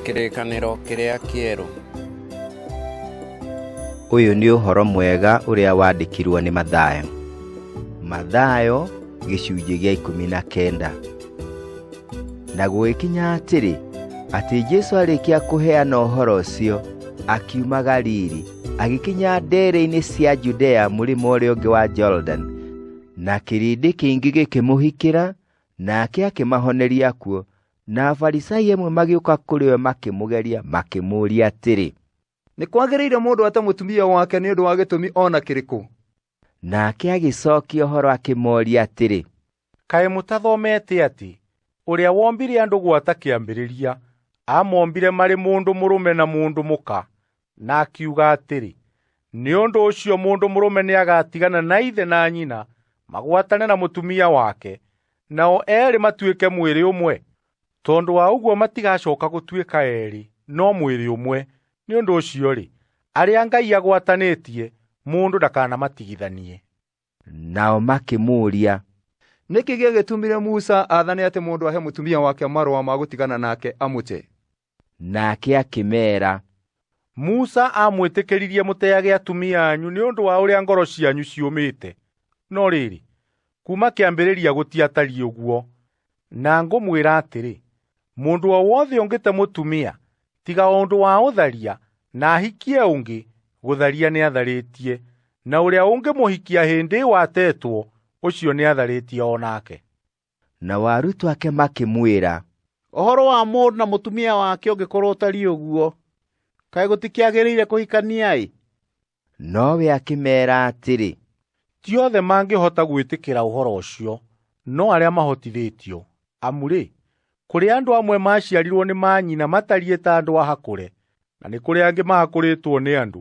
Kĩrĩkanĩro kĩrĩa kĩerũ. Ũyũ nĩ ũhoro mwega ũrĩa wandĩkirwo nĩ Mathayo. Mathayo gĩcunjĩ gĩa ikũmi na kenda. Na gũgĩkinya atĩrĩ, atĩ Jesu arĩkia kũheana ũhoro ũcio, akiuma Galili, agĩkinya ndere-inĩ cia Judea mũrĩmo ũrĩa ũngĩ wa Jordan, na kĩrĩndĩ kĩingĩ gĩkĩmũhikĩra, Nake akĩmahoneria kuo, na Afarisai amwe magĩũka kũrĩ we makĩmũgeria, makĩmũũria atĩrĩ. Nĩ kwagĩrĩire mũndũ ate mũtumia wake nĩ ũndũ wa gĩtũmi o na kĩrĩkũ? Nake agĩcookia ũhoro akĩmooria atĩrĩ. Kaĩ mũtathomete atĩ ũrĩa wombire andũ gwata kĩambĩrĩria amombire marĩ mũndũ mũrũme na mũndũ mũka, Na akiuga atĩrĩ, nĩ ũndũ ũcio mũndũ mũrũme nĩagatigana na ithe na nyina, magwatane na mũtumia wake, nao eerĩ matuĩke mwĩrĩ ũmwe. Tondũ wa ũguo matigacoka gũtuĩka eerĩ, no mwĩrĩ ũmwe. Nĩ ũndũ ũcio-rĩ, arĩa Ngai agwatanĩtie, mũndũ ndakanamatigithanie. Nao makĩmũũria, Nĩkĩ gĩagĩtumire Musa athane atĩ mũndũ ahe mũtumia wake marũa ma gũtigana nake amũte? Nake akĩmeera, Musa aamwĩtĩkĩririe mũteage atumia anyu nĩ ũndũ wa ũrĩa ngoro cianyu ciũmĩte. No rĩrĩ, kuuma kĩambĩrĩria gũtiatariĩ ũguo. Na ngũmwĩra atĩrĩ, mũndũ o wothe ũngĩte mũtumia, tiga o ũndũ wa ũtharia, na ahikie ũngĩ, gũtharia nĩatharĩtie, na ũrĩa ũngĩmũhikia hĩndĩ ĩyo atetwo, ũcio nĩatharĩtie o nake. Nao arutwo ake makĩmwĩra, ũhoro wa mũndũ na mũtumia wake ũngĩkorwo ũtariĩ ũguo, kaĩ gũtikĩagĩrĩire kũhikania-ĩ! Nowe akĩmeera atĩrĩ, Ti othe mangĩhota gwĩtĩkĩra ũhoro ũcio, no arĩa mahotithĩtio. Amu-rĩ, kũrĩ andũ amwe maaciarirwo nĩ maanyina matariĩ ta andũ ahakũre, na nĩ kũrĩ angĩ mahakũrĩtwo nĩ andũ,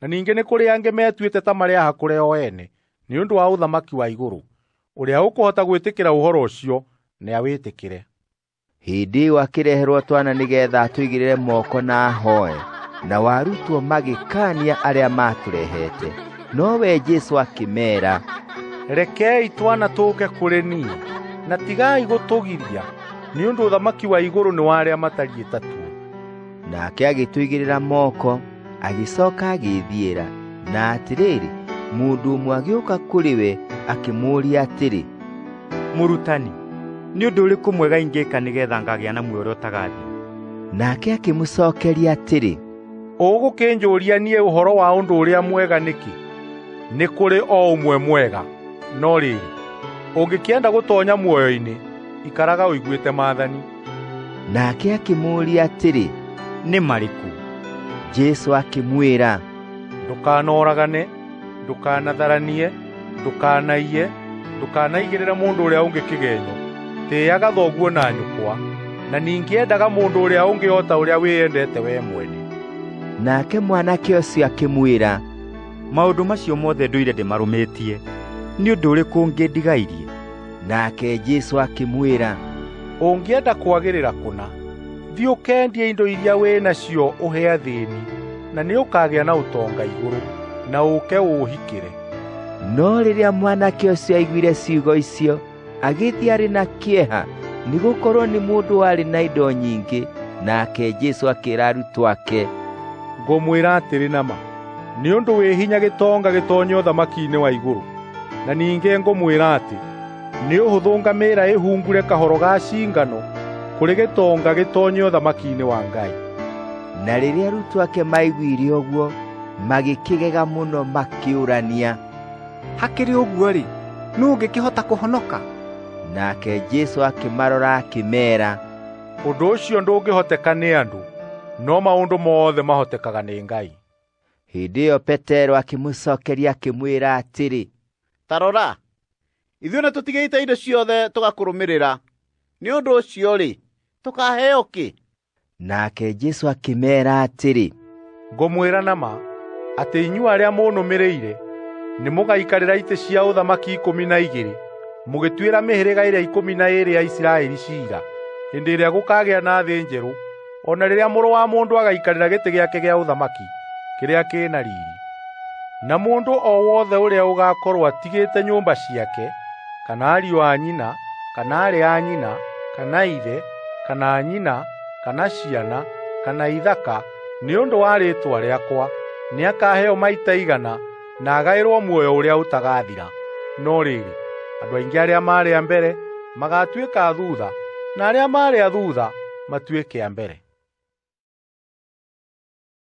na ningĩ nĩ kũrĩ angĩ metuĩte ta marĩ ahakũre o ene nĩ ũndũ wa ũthamaki wa igũrũ. ũrĩa ũkũhota gwĩtĩkĩra ũhoro ũcio nĩawĩtĩkĩre hĩndĩ ĩyo akĩreherwo twana nĩgetha atũigĩrĩre moko na ahoe na warutwo magĩkania arĩa matũrehete no we Jesu akĩmeera rekei twana tũke kũrĩ niĩ na tigai gũtũgiria nĩ ũndũ ũthamaki wa igũrũ nĩ wa arĩa matariĩ tatuo nake agĩtũigĩrĩra moko agĩcoka agĩĩthiĩra na atĩrĩrĩ mũndũ ũmwe agĩũka kũrĩ we akĩmũũria atĩrĩ mũrutani nĩ ũndũ ũrĩkũ mwega ingĩka nĩgetha ngagĩa na muoyo ũrĩa ũtagathira nake akĩmũcokeria atĩrĩ ũgũkĩnjũria niĩ ũhoro wa ũndũ ũrĩa mwega nĩkĩ nĩ kũrĩ o ũmwe mwega no rĩrĩ ũngĩkĩenda gũtonya muoyo-inĩ ikaraga ũiguĩte maathani Nake akĩmũũria atĩrĩ, nĩ marĩkũ? Jesu akĩmwĩra, ndũkanoragane ndũkanatharanie ndũkanaiye ndũkanaigĩrĩra mũndũ ũrĩa ũngĩ kĩgenyo tĩaga thoguo na nyũkwa na ningĩ endaga mũndũ ũrĩa ũngĩ o ta ũrĩa wĩyendete wee mwene Nake mwanake ũcio akĩmwĩra, maũndũ macio mothe ndũire ndĩmarũmĩtie, nĩ ũndũ ũrĩkũ ũngĩ ndigairie? nake Jesu akĩmwĩra ũngĩenda kwagĩrĩra kũna thiĩ ũkendie indo iria wĩ nacio ũhe athĩni na nĩ ũkagĩa na ũtonga igũrũ na ũke ũũhikĩre no rĩrĩa mwanake ũcio aiguire ciugo icio agĩthiĩ arĩ na kĩeha nĩ gũkorwo nĩ mũndũ warĩ na indo nyingĩ nake Jesu akĩra arutwo ake ngũmwĩra atĩrĩ na ma Nĩ ũndũ wĩ hinya gĩtonga gĩtonye ũthamaki-inĩ wa igũrũ. Na ningĩ ngũmwĩra atĩ nĩ ũhũthũ ngamĩra ĩhungure kahoro ga cingano kũrĩ gĩtonga gĩtonye ũthamaki-inĩ wa Ngai. Na rĩrĩa arutwo ake maaiguire ũguo, magĩkĩgega mũno makĩũrania. Hakĩrĩ ũguo-rĩ, nũũ ũngĩkĩhota kũhonoka? Nake Jesu akĩmarora akĩmeera, Ũndũ ũcio ndũngĩhoteka nĩ andũ, no maũndũ mothe mahotekaga nĩ Ngai. Hĩndĩ ĩyo Petero akĩmũcokeria akĩmwĩra atĩrĩ, ta rora, ithuĩ nĩ tũtigĩte indo ciothe tũgakũrũmĩrĩra. Nĩ ũndũ ũcio-rĩ, tũkaheo kĩ? Nake Jesu akĩmeera atĩrĩ, ngũmwĩra na ma atĩ inyuĩ arĩa mũnũmĩrĩire nĩ mũgaikarĩra itĩ cia ũthamaki ikũmi na igĩrĩ mũgĩtuĩra mĩhĩrĩga ĩrĩa ikũmi na ĩrĩ ya isiraeli ciira hĩndĩ ĩrĩa gũkagĩa na thĩ njerũ o na rĩrĩa mũrũ wa mũndũ agaikarĩra gĩtĩ gĩake gĩa ũthamaki kĩrĩa kĩ na riri na mũndũ o wothe ũrĩa ũgaakorwo atigĩte nyũmba ciake kana ariũ a nyina kana aarĩ a nyina kana ithe kana nyina kana ciana, kana ithaka, nĩ ũndũ wa rĩĩtwa rĩakwa, nĩakaheo maita igana na agaĩrwo muoyo ũrĩa ũtagathira. No rĩrĩ, andũ aingĩ arĩa maarĩ a mbere magaatuĩka a thuutha, na arĩa maarĩ a thuutha matuĩke a mbere.